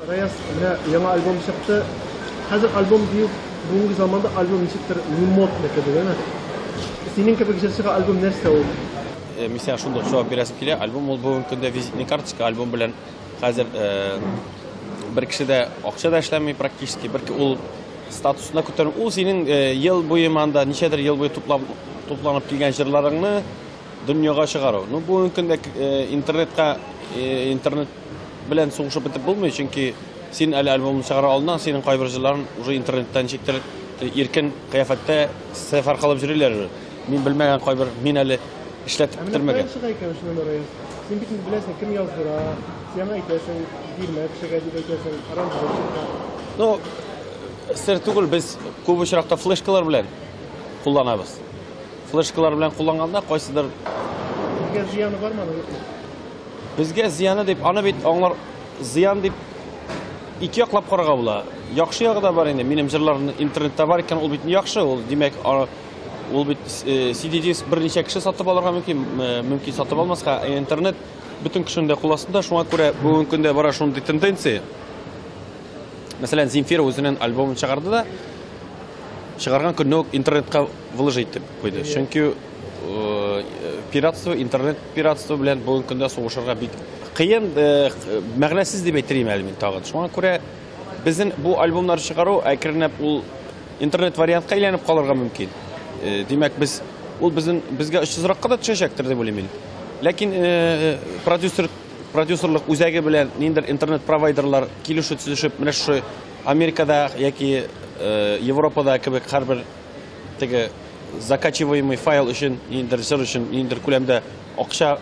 Раяз, менә яңа альбом чыкты. Хәзер альбом дию бүгенге заманда альбом ничектер не модно кебек, әнә. Синең кебек җырчыга альбом нәрсә ул? Э, мин сиңа шундый җавап бирәсем килә. Альбом ул бүгенге көндә визитный карточка, альбом белән хәзер э, бер кеше дә акча да эшләми практически, бер ул статусына күтәрү. Ул синең э, ел буе манда ничәдер ел буе туплап тупланып килгән җырларыңны Дөньяга чыгару. Ну, бүгенге көндә э, интернетка э, интернет белән сугышып бетеп булмый, чөнки син әле альбомны чыгара алдыннан синең кайбер җырларың уже интернеттан чиктер иркен кыяфәттә сәфәр кылып йөриләр. Мин белмәгән кайбер мин әле эшләтеп бетермәгән. Син бит инде беләсең, кем яздыра, сиңа әйтәсең, бирмә кешегә дип әйтәсең, аранжировщикка. Ну, сер түгел, без күп очракта флешкалар белән кулланабыз. Флешкалар белән кулланганда кайсыдыр Безгә зыяны бармы аның? Безгә зыяны дип, аны бит аңлар зыян дип ике яклап карарга була. Яхшы ягы да бар инде. Минем җырларны интернетта бар икән, ул бит яхшы, ул димәк, ул бит CD-диск э, берничә кеше сатып алырга мөмкин, э, мөмкин сатып алмаска. Ә интернет бөтен кешенең дә кул астында, шуңа күрә бүгенге көндә бара шундый тенденция. Мәсәлән, Земфира үзенең альбомын чыгарды да, чыгарган көнне үк интернетка Выложить дип куйды. Чөнки пиратство, интернет пиратство белән бүгенге көндә сугышырга бик кыен, мәгънәсез дип әйтер идем әле мин тагын. Шуңа күрә безнең бу альбомнар чыгару әкренләп ул интернет вариантка әйләнеп калырга мөмкин. Димәк, без ул безнең безгә очсызракка да төшәчәктер дип уйлыйм мин. Ләкин продюсер продюсерлык үзәге белән ниндер интернет провайдерлар килешү төзешеп, менә шушы Америкада яки Европада кебек һәрбер Теге закачиваемый файл өчен ниндидер җыр өчен ниндидер күләмдә акча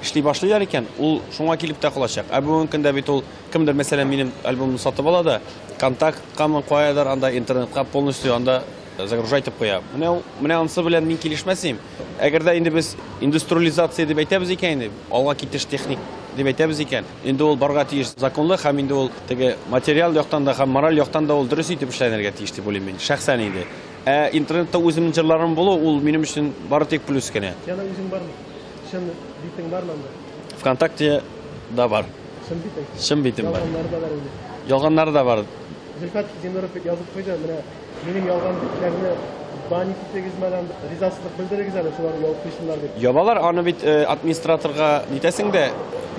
эшли башлыйлар икән, ул шуңа килеп тә калачак. Ә бүгенге көндә бит ул кемдер, мәсәлән, минем альбомны сатып ала да, контакткамы каядыр анда интернетка полностью анда э, загружай итеп куя. Менә ул менә анысы белән мин килешмәс идем. Әгәр дә инде без индустриализация дип әйтәбез икән инде, алга китеш техник дип әйтәбез икән, Инде ул барга тиеш законлы һәм инде ул теге материал яктан да һәм мораль яктан да ул дөрес итеп эшләнергә тиеш дип уйлыйм мин, шәхсән инде. Ә интернетта үземнең җырларым булу, ул минем өчен бары тик плюс кенә. Яна үзең бармы? Чын битең бармы анда? ВКонтакте да бар. Чын битең? Чын битем бар. Ялганнары да бар инде. Ялганнары да бар. Зөлфәт Зиннуров язып куйды, менә Минем ялган битләрне банить итегез мәдәм, ризасызлык белдерегез әле, шулар яуып куйсыннар дип. Ябалар аны бит э, администраторга нитәсең дә,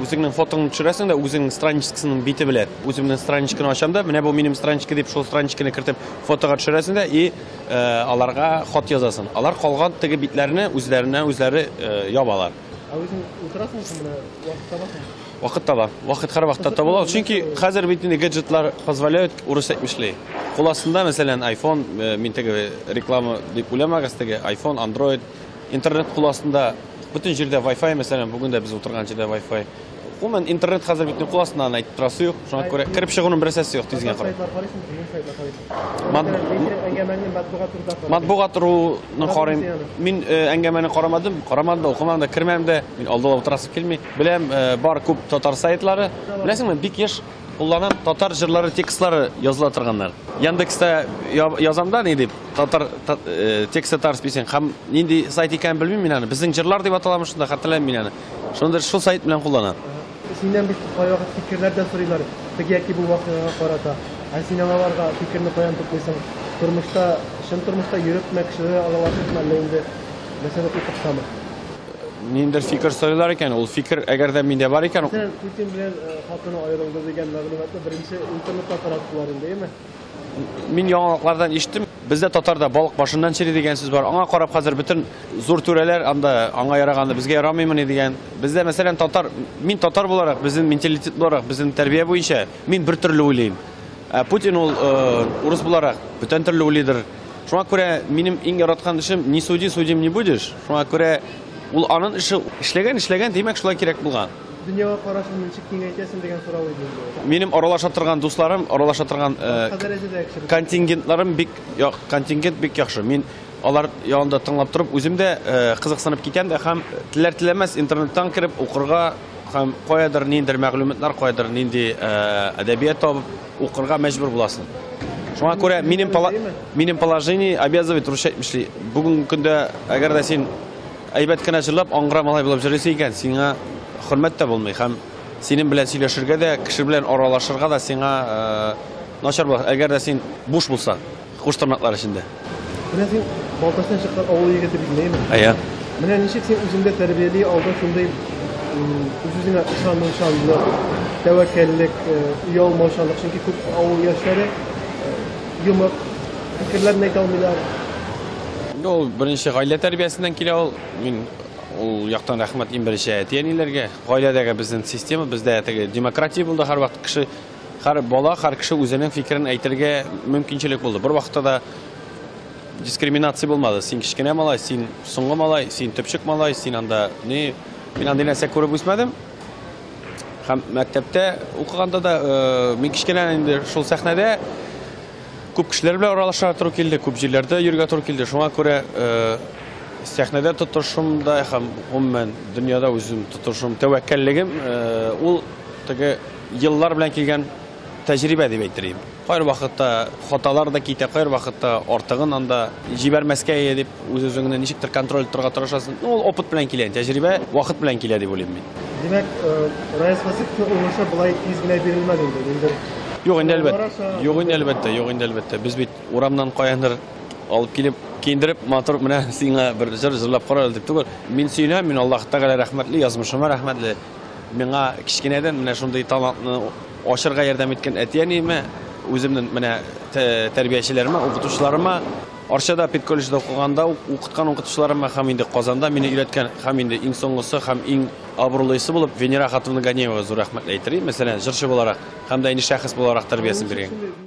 үзеңнең фотоңны төшерәсең дә, үзеңнең страничкасының бите белән. Үземнең страничканы ачам да, менә бу минем страничка дип шул страничканы кертеп фотога төшерәсең дә и э, аларга хат язасың. Алар калган теге битләрне үзләренә үзләре э, ябалар. Ә үзең утырасың шул менә вакыт табасың. Вакыт таба. Вакыт һәрвакытта табыла ул. Чөнки хәзер бит инде гаджетлар позволяют урыс әйтми эшли. Кул астында, мәсәлән, iPhone, э, мин теге реклама дип уйламагыз, теге iPhone, Android, интернет кул астында бөтен җирдә Wi-Fi, мәсәлән, бүген дә без утырган җирдә Wi-Fi. Гомумән, интернет хәзер бит кул астында аны әйтеп торасы юк. Шуңа күрә кереп чыгуның бер әсәсе юк тизгә карап. Матбугат руының карыйм. Мин э, әңгәмәне карамадым, карамадым да, укымадым да, кермәдем дә. Мин алдылап утырасы килми. Беләм, э, бар күп татар сайтлары. Беләсеңме, бик еш кулланам татар җырлары текстлары языла торганнар. Яндекста язамда ни дип, татар э, текст татар списен. Һәм нинди сайт икәнен белмим мин аны. Безнең җырлар дип аталамы шунда, хәтерләмим мин аны. Шундыр шул сайт белән кулланам. Синнән бик кайвакыт фикерләр дә сорыйлар. Теге яки бу вакыйгага карата. Ә син аларга фикерне каян туплыйсың? Тормышта, чын тормышта йөрепме, кешеләр аралашыпмы, әллә инде мәсәлән укытсамы? Ниндер фикер сойлар икән, ул фикер әгәр дә миндә бар икән. Сез Путин белән э, хатыны аерылды дигән мәгълүматны беренче интернетта тараттылар инде, әйме? Мин яңалыклардан ишеттем. Бездә татарда балык башыннан чери дигән сүз бар. Аңа карап хәзер бөтен зур түрәләр анда аңа яраганы безгә ярамыймыни дигән. Бездә мәсәлән татар, мин татар буларак, безнең менталитет буларак, безнең тәрбия буенча мин бер төрле уйлыйм. Ә Путин ул э, урыс буларак бүтән төрле уйлыйдыр. Шуңа күрә минем иң яраткан эшем не суди, судим не будешь. Шуңа күрә ул анын эше эшләгән, эшләгән, димәк шулай кирәк булган. Дөньяга карашын ничек киңәйтәсең дигән сорау иде инде. Минем аралаша торган дусларым, аралаша торган э, контингентларым бик як, контингент бик яхшы. Мин алар янында тыңлап торып, үзем дә э, кызыксынып китәм дә һәм теләр теләмәс интернеттан кереп укырга һәм каядыр ниндер мәгълүматлар, каядыр нинди э, әдәбият табып Укырга мәҗбүр буласың. Шуңа күрә минем минем положение обязывает вручать мишли. Бүгенге көндә әгәр дә син әйбәт кенә җырлап, аңгыра малай булып җырлыйсың икән, сиңа хөрмәт тә булмый һәм синең белән сөйләшергә дә, кеше белән аралашырга да сиңа э, начар була. Әгәр дә син буш булсаң, Хуш тырнаклар эчендә. Менә син Балтачтан чыккан авыл егете бит, нәйме? Әйе. Менә ничек син үзеңдә тәрбияли алдың шундый үз-үзеңә ышанучанлык, тәвәккәллек, оялмаучанлык, э, чөнки күп авыл яшьләре э, йомык, фикерләрен әйтә алмыйлар. Инде ул беренче гаилә тәрбиясеннән килә ул. Мин ул яктан рәхмәт иң беренче әти-әниләргә. Гаиләдәге безнең система, бездә теге демократия булды һәрвакыт кеше Хәр бала, хәр кеше үзенең фикерен әйтергә мөмкинчелек булды. Бер вакытта да дискриминация булмады. Син кечкенә малай, син соңгы малай, син төпчек малай, син анда ни, мин андый нәрсә күреп үсмәдем. Һәм мәктәптә укыганда да э, мин кечкенә инде шул сәхнәдә күп кешеләр белән аралаша тору килде, күп җирләрдә йөргә туры килде. Шуңа күрә э, сәхнәдә тотышым да һәм гомумән дөньяда үзем тотышым, тәвәккәллегем э, ул теге Еллар белән килгән тәҗрибә дип әйтер идем. Кайвакытта хаталар да китә, кайвакытта артыгын анда җибәрмәскә ие дип, үз-үзеңне ничектер контроль итәргә тырышасың. Ну, ул опыт белән килә, тәҗрибә вакыт белән килә дип уйлыйм мин. Димәк, э, Раис Васыйковның уңышы болай тиз генә бирелмәде инде, ниндидер Юк инде әлбәттә, юк инде әлбәттә, юк инде әлбәттә. Без бит урамнан каяндыр алып килеп, киендереп, матур менә сиңа бер җыр җырлап кара әле дип түгел. Мин сөенәм, мин Аллаһ Тәгалә рәхмәтле, язмышыма рәхмәтле. Миңа кечкенәдән менә шундый талантны ачырга ярдәм иткән әти-әниемә, үземнең менә тәрбиячеләремә, укытучыларыма, Арчада педколледжда укыганда ук укыткан укытучыларыма һәм инде Казанда мине өйрәткән һәм инде иң соңгысы һәм иң абруйлысы булып Венера хатыны Ганеева зур рәхмәт әйтер идем, мәсәлән, җырчы буларак һәм дә инде шәхес буларак тәрбиясен биргән.